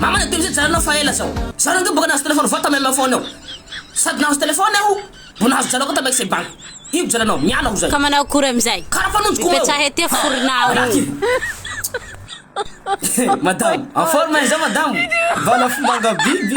Mama le teo izay nijanona aho fa ela zao. Za rangahy boka nahazo téléphone voa tamy MFone ao. Sady nahazo téléphone aho no nahazo jalo koa tamy Ex Bank. Io gujaranao, miala ho zay. Ka manao akory amizay? Kara fa nonjy koma eo. Mipetraha ety aho forona aho io. Madamo, en forme hein zao madamo? Vala fomba angabiby.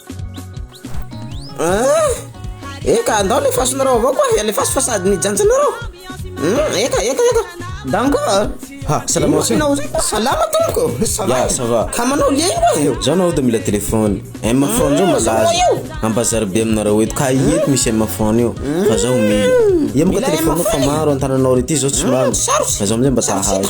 Eka, ndao alefasinareo avao koa e, alefaso fa sady nijanjinareo. Hmm, eka, eka, eka. Danko a. Ha, salama aussi. Inona aussi? Salama tompoko. Ça va? Ya, ça va. Ka manao lia io e. Zao nao dia mila téléphone. M phone zao malaza. Ambazary be aminareo eto. Ka ieto misy M phone io. Fa zao mila. Ia moka téléphone fa maro antananao rety zao tsy lany. Fa zao amizay mba tahazo.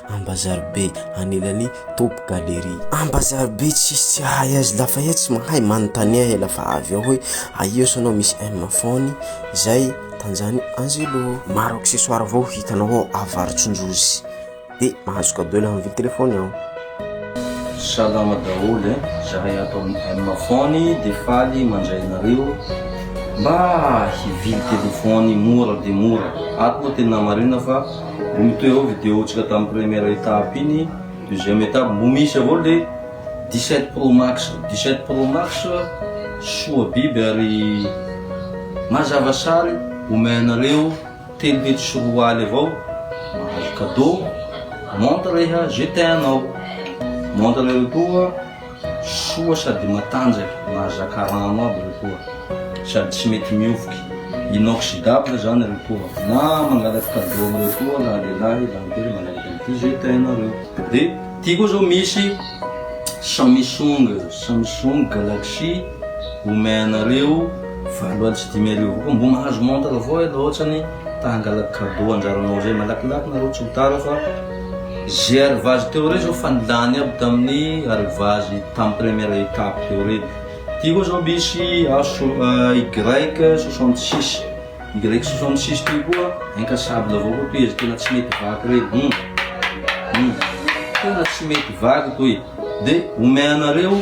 Ambazaribe anilany top galerie. Ambazaribe tsisy tsy ahay azy lafa eo tsy mahay manontania he lafa avy eo hoe aia osa anao misy M fony zay tanjany Angelo. Maro accessoire vao hitanao ao Avarotsonjozy de mahazo cadeau laha mividy telefony ao. Salama daholo e, zahay ato amin'ny M fony de faly mandray anareo mba hivily telefony mora dia mora, ato moa tena marina fa. Mbola mitohy avao video ntsika tam première étape iny, deuxième étape mbo misy avao le dix sept pro max, dix sept pro max soa biby ary mazava sary omey anareo telo hetsy sy roa aly avao mahazo cadeau montre eha ze teanao montre eroa koa Soa sady matanjaka, mahazaka rano aby ry poa, sady tsy mety mihovoky, inoxydable zany ry poa, na mangalatra cadeau amreo koa raha lehilahy zany koa hoe manaraka an'ity zay tainareo. De ty koa zao misy Samsung, Samsung Galaxy omey anareo valo aly sy dimy arivo koa, mbo mahazo montre avao ianao, ohatrany ta hangalatra cadeau anjaranao zay, malakilaky nareo tsy ho tara fa. Ze arrivage teo rey zao fa nilany aby tamin'ny arrivage tamin'ny première étape teo rey. Ty koa zao misy HY 66, Y 66 ty koa incassable avao koa tohizo tena tsy mety vaky rey. Hum, hum, tena tsy mety vaky toy. De omeanareo.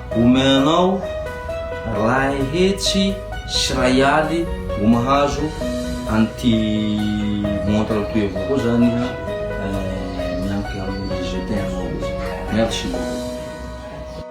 Omeo anao ray hetsy sy ray aly vao mahazo an'ity montre toy avao koa zany miankina amin'ny je t'aime anao. Merci beaucoup.